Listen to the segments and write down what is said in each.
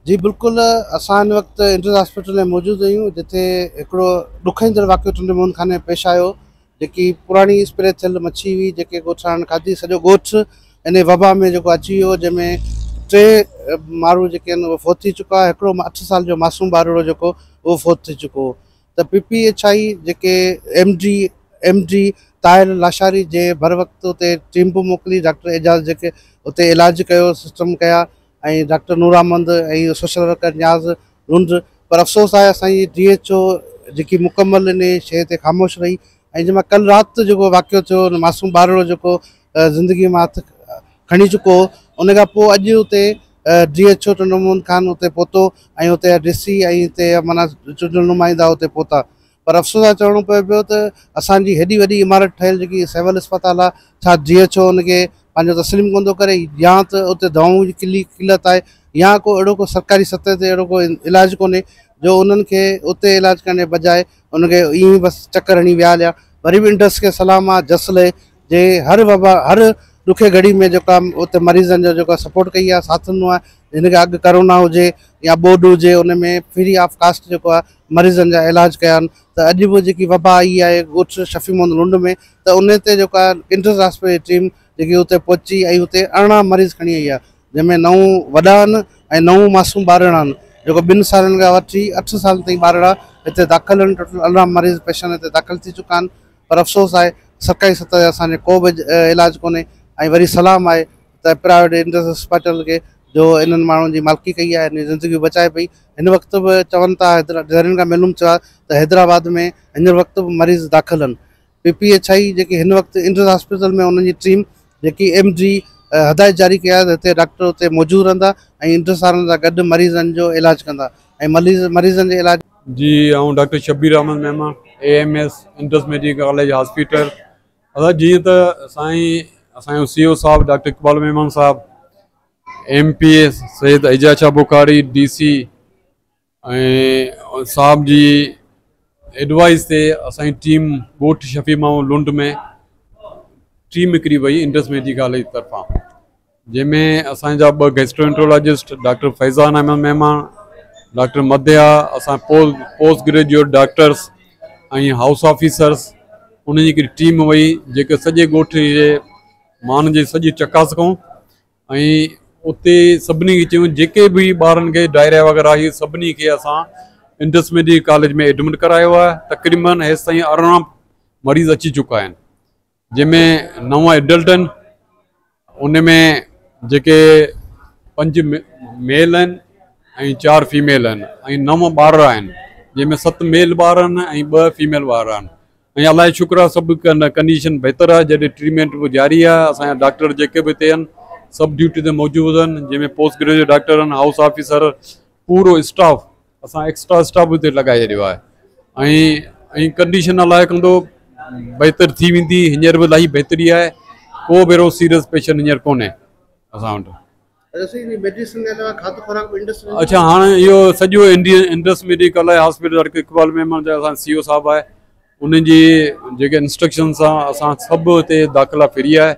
جي بلڪل اسان ان وقت انٽرنل هاسپيٽل ۾ موجود آهيون جتي هڪڙو ڏکائيندڙ واقعو ٽنڊي موهن خان ۾ پيش آيو جيڪي پراڻي اسپري ٿيل مڇي هئي جيڪي ڳوٺاڻن کاڌي سڄو ڳوٺ ان وبا ۾ جيڪو اچي ويو جنهن ۾ ٽي ماڻهو جيڪي آهن اهي فوت ٿي چڪا هڪڙو اٺ سال جو معصوم ٻارڙو جيڪو اهو فوت ٿي چڪو ته پي پي ايڇ آئي جيڪي M D M D Tahir Lashari جي بروقت اتي ٽيم به موڪلي ڊاڪٽر اعجاز جيڪي اتي علاج ڪيو سسٽم ڪيا ۽ doctor Noramand ۽ social worker Niaz Lund پر افسوس آهي اسان جي ڊي ايڇ او جيڪي مڪمل ان شيء تي خاموش رهي ۽ جنهن مان ڪل رات جيڪو واقعو ٿيو ان معصوم ٻارڙو جيڪو زندگي مان هٿ کڻي چڪو ان کان پوء اڄ اتي D H O Chando Muhammad Khan اتي پهتو ۽ اتي جا ڊي سي ۽ اتي جا معنيٰ چونڊيل نمائندا اتي پهتا پر افسوس سان چوڻو پوي پيو ته اسان جي هيڏي وڏي عمارت ٺهيل جيڪي سول اسپتال آهي ڇا ڊي ايڇ او ان کي پنهنجو تسليم ڪونه ٿو ڪري يا ته اتي دوائون جي ڪلي قلت آهي يا ڪو اهڙو ڪو سرڪاري سطح تي اهڙو ڪو علاج ڪونهي جو انهن کي اتي علاج ڪرڻ جي بجاء ان کي ائين بس چڪر هڻي ويهاريا وري به انڊس کي سلام آهي جس لهي جي هر وبا هر ڏکي گهڙي ۾ جيڪا اتي مريضن جو جيڪا سپورٽ ڪئي آهي ساٿ ڏنو آهي جن کي اڳ ڪرونا هجي يا ٻوڏ هجي ان ۾ فري آف ڪاسٽ جيڪو آهي مريضن جا علاج ڪيا آهن ته اڄ به جيڪي وبا آئي آهي ڳوٺ شفيع محمد لنڊ ۾ ته ان تي جيڪو آهي انٽرس هاسپيٽل جي ٽيم جيڪي اتي پهچي ۽ اتي ارڙهن مريض کڻي آئي آهي جنهن ۾ نو وڏا آهن ۽ نو معصوم ٻارڙا آهن جيڪو ٻن سالن کان وٺي اٺ سالن تائين ٻارڙا هتي داخل آهن ٽوٽل ارڙهن مريض پيشنٽ هتي داخل ٿي چڪا آهن پر افسوس آهي سرڪاري سطح تي اسان جو ڪو به علاج ڪونهي ۽ وري سلام آهي ته پرائيويٽ انڊس اسپتال کي جو انهن ماڻهن جي مالڪي ڪئي آهي انهن جون زندگيون بچائي پئي هن وقت به چون ٿا ذريعن کان معلوم ٿيو آهي ته حيدرآباد ۾ هينئر وقت به مريض داخل آهن پي پي ايڇ آء جيڪي هن وقت انڊس اسپتال ۾ انهن جي ٽيم جيڪي ايم ڊي هدايت جاري ڪئي آهي ته هتي ڊاڪٽر اتي موجود رهندا ۽ انڊس وارن سان گڏ مريضن جو علاج ڪندا ۽ مريضن جي علاج جي آئون doctor Shabbir Ahmed Memon A M S Indus medical college hospital ادا جيئن ته سائين اسانجو سي او صاحب doctor Iqbal Memon sahib M P S Syed Ijaz Shah Bukhari D C ۽ sahib جي ایڊوائز تي اسانجي ٽيم ڳوٺ شفيع ماحول لنڊ ۾ ٽيم نڪري وئي انٽرس ميڊيڪل ڪاليج طرفان جنهن ۾ اسان جا ٻه گيسٽرونٽولاجسٽ ڊاڪٽر فيضان احمد مهمان، ڊاڪٽر مديحا، اسان post graduate doctors ۽ house officers انهن جي هڪڙي ٽيم وئي جيڪي سڄي ڳوٺ جي ماڻهن جي سڄي چڪاس ڪئون ۽ اتي سڀني کي چيون جيڪي به ٻارن کي ڊائريا وغيره آهي سڀني کي اسان انڊس ميڊيڪل ڪاليج ۾ ايڊمٽ ڪرايو آهي تقريبن هيستائين ارڙهن مريض اچي چڪا آهن جنهن ۾ نو ايڊلٽ آهن ان ۾ جيڪي پنج ميل آهن ۽ چار فيميل آهن ۽ نو ٻار آهن جنهن ۾ ست ميل ٻار آهن ۽ ٻه فيميل ٻار آهن ۽ الله جو شڪر آهي سڀ ڪنڊيشن بهتر آهي جڏهن ٽريٽمينٽ به جاري آهي اسان جا ڊاڪٽر جيڪي به هتي آهن سڀ ڊيوٽي تي موجود آهن جنهن ۾ پوسٽ گريجوئيٽ ڊاڪٽر آهن هائوس آفيسر پورو اسٽاف اسان ايڪسٽرا اسٽاف به اتي لڳائي ڇڏيو آهي ۽ ڪنڊيشن الاهي ڪندو بهتر ٿي ويندي هينئر به الاهي بهتري آهي ڪو به اهڙو سيريس پيشنٽ هينئر ڪونهي اسان وٽ اڇا هاڻي اهو سڄو انڊس ميڊيڪل آهي هاسپيٽل ڊاڪٽر اقبال ميمڻ جا اسان سي او صاحب آهي انهن جي جيڪي انسٽرڪشن سان اسان سڀ هتي داخلا فري آهي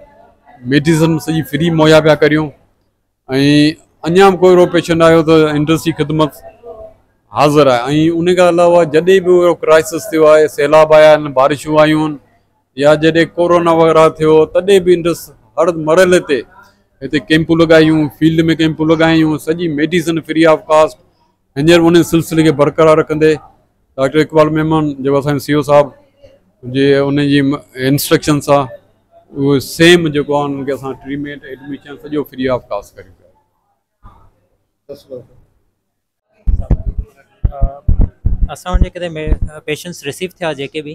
ميڊيسن سڄي فري مهيا پيا ڪريون ۽ اڃا به ڪو اهڙو پيشنٽ آيو ته انڊسٽري خدمت حاضر آهي ۽ ان کان علاوه جڏهن به اهڙو ڪرائسس ٿيو آهي سيلاب آيا آهن بارشون آيون آهن يا جڏهن ڪورونا وغيره ٿيو تڏهن به انڊس هر مرحلي تي هتي ڪيمپون لڳايون فيلڊ ۾ ڪيمپون لڳايون سڄي ميڊيسن فري آف ڪاسٽ هينئر انهي سلسلي کي برقرار رکندي ڊاڪٽر اقبال ميمڻ جيڪو اسانجي سي او صاحب جي ان جي انسٽرڪشن سان اهو سيم جيڪو آهن ان کي اسان ٽريٽمينٽ ايڊميشن سڄو فري آف ڪاسٽ ڪريون پيا اسان وٽ جيڪڏهن پيشنٽس رسيو ٿيا جيڪي به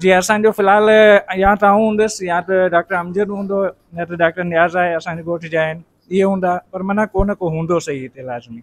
جي اسان جو في الحال يا ته آئون هوندس يا ته ڊاڪٽر امجد هوندو نه ته ڊاڪٽر نياز آهي اسان جي ڳوٺ جا آهن اهي هوندا پر معنيٰ ڪو نه ڪو هوندو صحيح هتي لازمي.